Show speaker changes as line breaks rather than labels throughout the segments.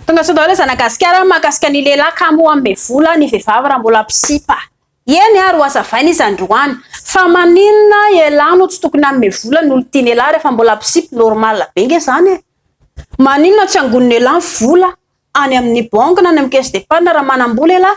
Tonga soa daholo zanagasikara mahakasika ny lehilahy kamo hanome vola ny vehivavy raha mbola mpisipa. Eny ary hoazavaina izy androany fa maninona ialahy no tsy tokony hanome vola ny olon-tiany ialahy rehefa mbola mpisipa, normal be nge zany e! Maninona tsy angonin'ialahy ny vola any amin'ny banky na any amin'ny caisse d'épargne raha manam-bola ialahy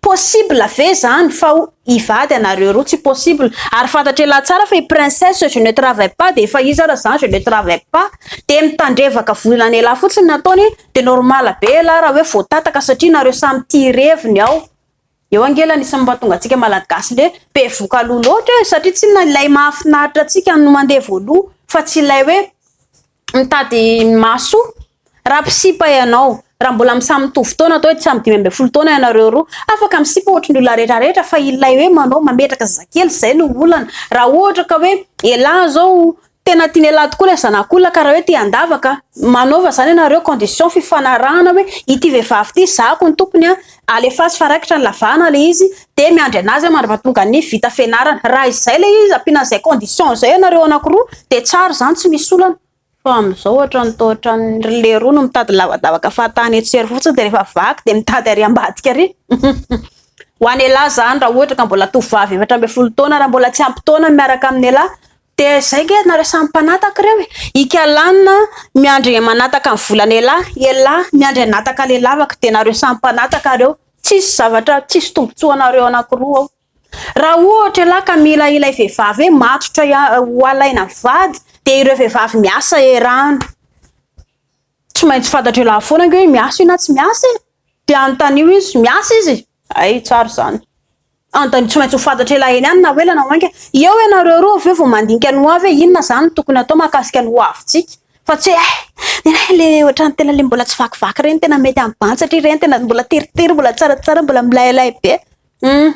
Possible ve zany fa ho hivady anareo roa? Tsy possible, ary fantatr'ialahy tsara fa i princesse je ne travaille pas dia efa izy ara zany je ne travaille pas dia mitandrevaka volan'ialahy fotsiny ny ataony dia normal be ialahy raha hoe voatataka satria nareo samy tia ireviny ao eo ange ilay anisany mahatonga antsika malagasy le be voka loha loatra e! satria tsinona ilay mahafinaritra antsika no mandeha voaloha fa tsy ilay hoe Mitady ny maso raha mpisipa ianao. Raha mbola misamy mitovy taona atao hoe samy dimy ambin'ny folo taona ianareo roa, afaka misipa ohatry ny olona rehetra rehetra fa ilay hoe manao mametraka zazakely izay no olana. Raha ohatra ka hoe elah izao tena tian'elah tokoa ilay zanak'olona ka raha hoe te handavaka, manaova izany ianareo condition fifanarahana hoe ity vehivavy ity zahako ny tompony an, Alefaso fa raikitra ny lavahana le izy de miandry anazy aho mandra patonga ny vita fianarana raha izay le izy ampiana an'izay condition izay ianareo anakiroa de tsara izany tsy misy olana fa amin'izao ohatran'ny toa ohatran'ny ry leroa no mitady lavadavaka fahatany eto sy ery fotsiny de rehefa vaky de mitady ary ambadika ary ho an'ialahy izany raha ohatra ka mbola tovovavy efatra ambin'ny folo taona raha mbola tsy ampy taona miaraka amin'ialahy De zay nge nareo samy mpanataka reo e! Ika lanina miandry manataka ny volana ela ela miandry anataka le lavaka de nareo samy mpanataka reo tsisy zavatra tsisy tombotsoa anareo anakiroa ao raha ohatra ela ka mila ilay vevavy hoe matotra ho alaina vady de ireo vevavy miasa erano tsy maintsy fantatry ela foana nge hoe miasa io na tsy miasa e de anontanio izy miasa izy ay tsara zany Andany tsy maintsy ho fantatra ela eny any na ho ela na ho enga. Eo ianareo roa avy eo vao mandinika ny hoavy hoe inona izany no tokony hatao mahakasika ny hoavintsika. Fa tsy hoe eh! Nenaha ilay ohatran'ny tena ilay mbola tsy vakivaky ireny, tena mety amin'ny bantsy satria ireny tena mbola teritery, mbola tsaratsara, mbola milailay be. Hum!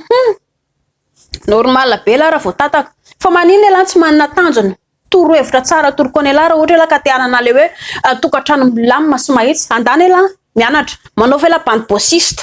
Normal be elah raha vao tataka. Fa maninona elah tsy manana tanjona? Toro hevitra tsara toroka an'i elah raha ohatra elah ka te hanana ilay hoe tokantrano milamina sy mahitsy. Andany elah mianatra. Manaova elah bande bossiste.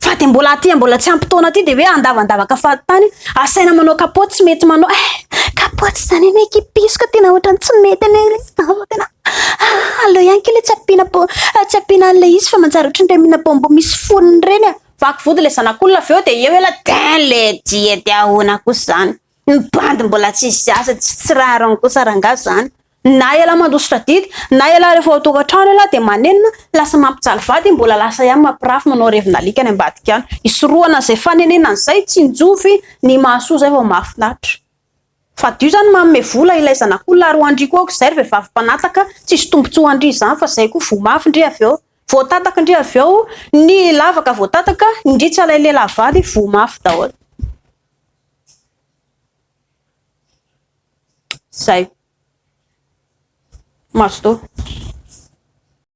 Fa de mbola aty mbola tsy ampy taona aty de hoe andavandavaka fahatany, asaina manao kapoty tsy mety manao eh kapoty zany anie kipiso ka tena ohatrany tsy mety anie le izy fa tena ah aleo ihany kely tsy ampiana po tsy ampiana an'le izy fa manjary ohatrany le mina bonbon misy fonony ireny ah. Vaky vody le zanak'olona avy eo de eo ela den le diety ahoana kosa zany, ny bandy mbola tsy izy aza tsy tsy rariny kosa rangaha zany. Na ialahy mandositra didy, na ialahy rehefa ao an-tokantrano ialahy dia manenina, lasa mampijaly vady i mbola lasa ihany mampirafy manao revin'alika any ambadika any. Hisorohana an'izay fanenenana izay, tsinjovy ny mahasoa izay vao mahafinaritra. Fadio izany manome vola ilay zanak'olona ary ho an-dry koa aoka izay ry vehivavy mpanataka, tsisy tombotsoa ho an-dry izany fa izay koa voa mafy ndry avy eo. Voatataka ndry avy eo ny lavaka voatataka, indrisy ilay lehilahy vady, voa mafy daholo. Zay. Mazotoa.